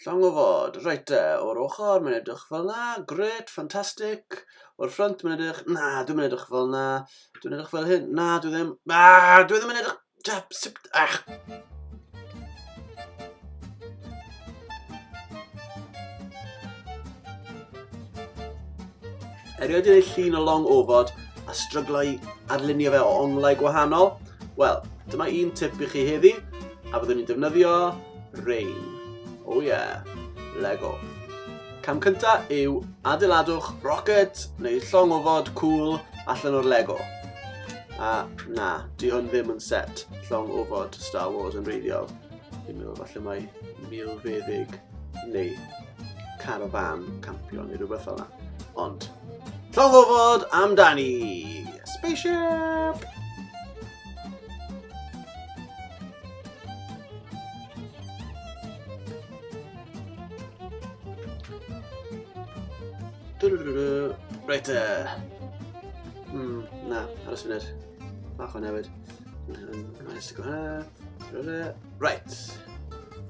Llong o fod. Reit te, o'r ochr mae'n edrych fel na, gret, ffantastig. O'r ffrynt mae'n edrych, na, dwi'n mynd edrych fel na, dwi'n edrych fel hyn, na, dwi ddim, na, dwi ddim yn edrych, jap, sip, ach. Erioed yn ei llun o long ofod a stryglau i arlunio fe o onglau gwahanol? Wel, dyma un tip i chi heddi, a byddwn ni'n defnyddio Rain. Oh yeah. Lego. Cam cynta yw adeiladwch rocket neu llong o fod cool allan o'r Lego. A na, di hwn ddim yn set llong o fod Star Wars yn reiddiol. Dwi'n meddwl falle mae milfeddyg neu carfan campio neu rhywbeth fel yna. Ond, llong o fod amdani! Spaceship! Reit e. Hmm, na, aros funud. Bach o'n newid. Nice to go hwnna. Right.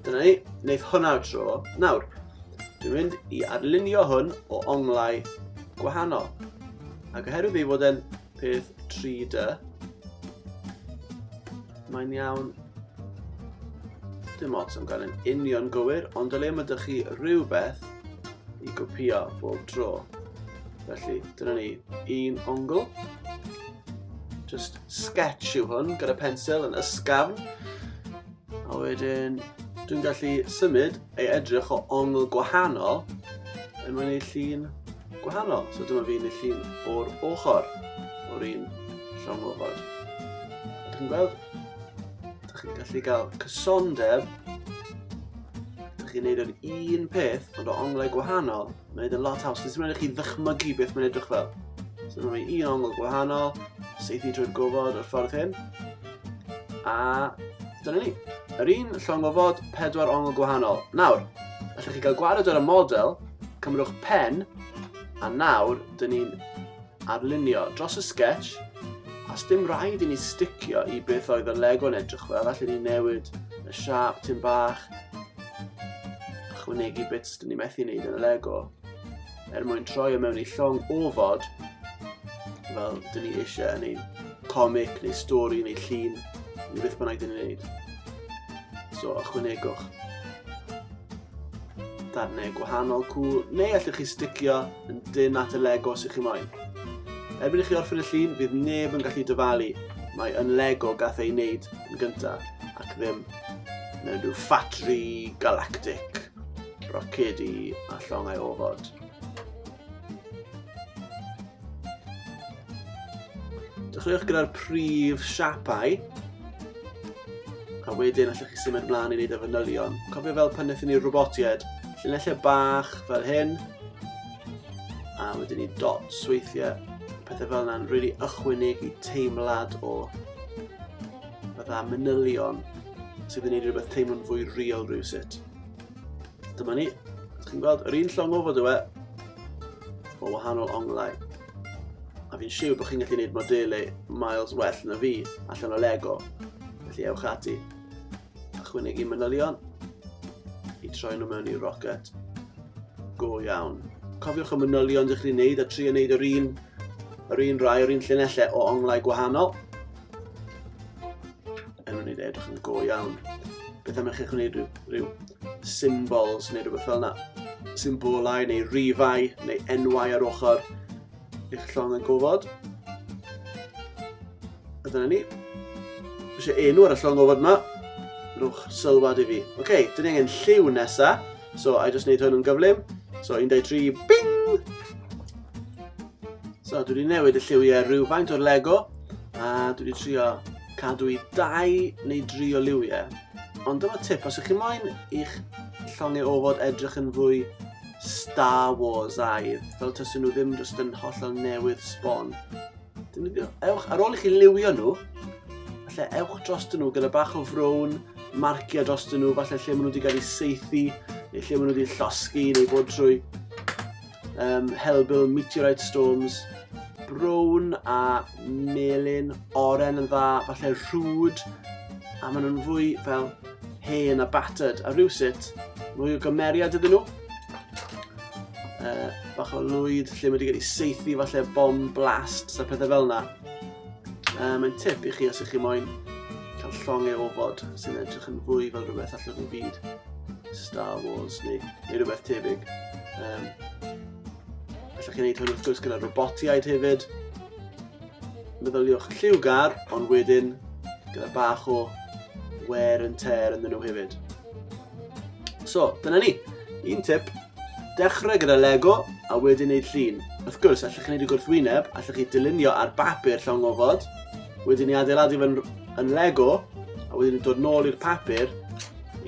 Dyna ni, wneud hwnna o tro. Nawr, dwi'n mynd i arlunio hwn o onglau gwahanol. Ac oherwydd ei fod e'n peth 3D. Mae'n iawn. Dim ots am gael yn union gywir, ond o le mae dych chi rhywbeth i gopio bob tro. Felly, dyna ni un ongl. Just sketch yw hwn gyda pensil yn ysgafn. A wedyn, dwi'n gallu symud ei edrych o ongl gwahanol yn mynd i'r llun gwahanol. So dyma fi'n y llun o'r ochr o'r un llong ofod. Ydych chi'n gweld? Ydych chi'n gallu cael cysondeb. Ydych chi'n neud yr un peth, ond o onglau gwahanol. Mae'n neud yn lot haws. Dwi'n mynd i chi ddychmygu beth mae'n edrych fel. So dyma fi un ongl gwahanol, seithi drwy'r gofod o'r ffordd hyn. A dyna ni. Yr un llong ofod, pedwar ongl gwahanol. Nawr, allwch chi gael gwared ar y model, Cymrwch pen, a nawr dyn ni'n arlunio dros y sketch, a sdim rhaid i ni sticio i beth oedd y lego'n edrych fel, allu ni newid y siap tyn bach, chwnegu bits dyn ni methu wneud yn y lego, er mwyn troi o mewn i llong ofod, fel dyn ni eisiau yn ein comic neu stori neu llun, neu beth bynnag dyn ni'n gwneud. So, ychwanegwch. darnau gwahanol cwl, neu allwch chi sticio yn dyn at y Lego sy'ch chi moyn. Erbyn i chi orffen y llun, fydd neb yn gallu dyfalu mae yn Lego gath ei wneud yn gyntaf ac ddim mewn rhyw ffatri galactic rocedi a llongau ofod. Dechreuwch gyda'r prif siapau. A wedyn allwch chi symud ymlaen i wneud y fanylion. Cofio fel pan wnaethon ni'r robotiaid, llinellau bach fel hyn. A wedyn ni dots weithiau. Pethau fel yna'n rili really ychwanig i teimlad o fydda manylion sydd yn gwneud rhywbeth teimlo'n fwy real rhywsut. Dyma ni. Chi'n gweld yr un llong ofod yw e. O wahanol onglau. A fi'n siw bod chi'n gallu gwneud modelau miles well na fi allan o Lego. Felly ewch ati. A chwynegu manylion. I troi nhw mewn i rocket. Go iawn. Cofiwch y manylion ydych chi'n gwneud a tri yn gwneud yr un, yr un rai, yr un llunellau o onglau gwahanol. yn mynd i edrych yn go iawn. Beth am i chi'ch gwneud rhyw, rhyw symbols neu rhywbeth fel yna. Symbolau neu rifau neu enwau ar ochr eich llong yn gofod. A dyna ni. Eisiau enw ar y llong gofod yma. Rwch sylwad i fi. Oce, okay, dyn ni angen lliw nesa. So, I just wneud hwn yn gyflym. So, 1, 2, 3, bing! So dwi wedi newid y lliwiau rhywfaint o'r Lego a dwi wedi trio cadw i dau neu dri o liwiau. Ond dyma tip, os ych chi moyn i'ch llongau ofod edrych yn fwy Star Wars aidd, fel tysyn nhw ddim just yn hollol newydd sbon. Ewch, ar ôl i chi liwio nhw, falle ewch dros nhw gyda bach o frown, marcio dros nhw, falle lle maen nhw wedi cael eu seithi, neu lle maen nhw wedi llosgu, neu bod trwy um, helbul meteorite storms, brown a melyn, oren yn dda, falle rhwyd, a maen nhw'n fwy fel hen a battered, a rhywsut mwy o gymeriad iddyn nhw. Uh, bach o lwyd lle mae wedi cael ei seithi falle bom blast a pethau fel yna. Uh, mae'n tip i chi os ych chi moyn cael llong ei ofod sy'n edrych yn fwy fel rhywbeth allan o'r byd Star Wars neu neu rhywbeth tebyg. Um, allwch chi wneud hwn wrth gwrs gyda robotiaid hefyd. Meddyliwch lliwgar, ond wedyn gyda bach o wear and tear yn nhw hefyd. So, dyna ni. Un tip, dechrau gyda Lego a wedyn neud llun. Wrth gwrs, allwch chi wneud y gwrthwyneb, allwch chi dylunio ar bapur llawn gofod, wedyn ni adeiladu fe'n yn Lego, a wedyn dod nôl i'r papur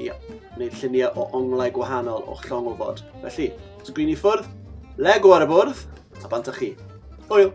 Ia, wneud lluniau o onglau gwahanol o'ch llong wybod. Felly, sgrin i ffwrdd, lego ar y bwrdd, a bant â chi. Hwyl!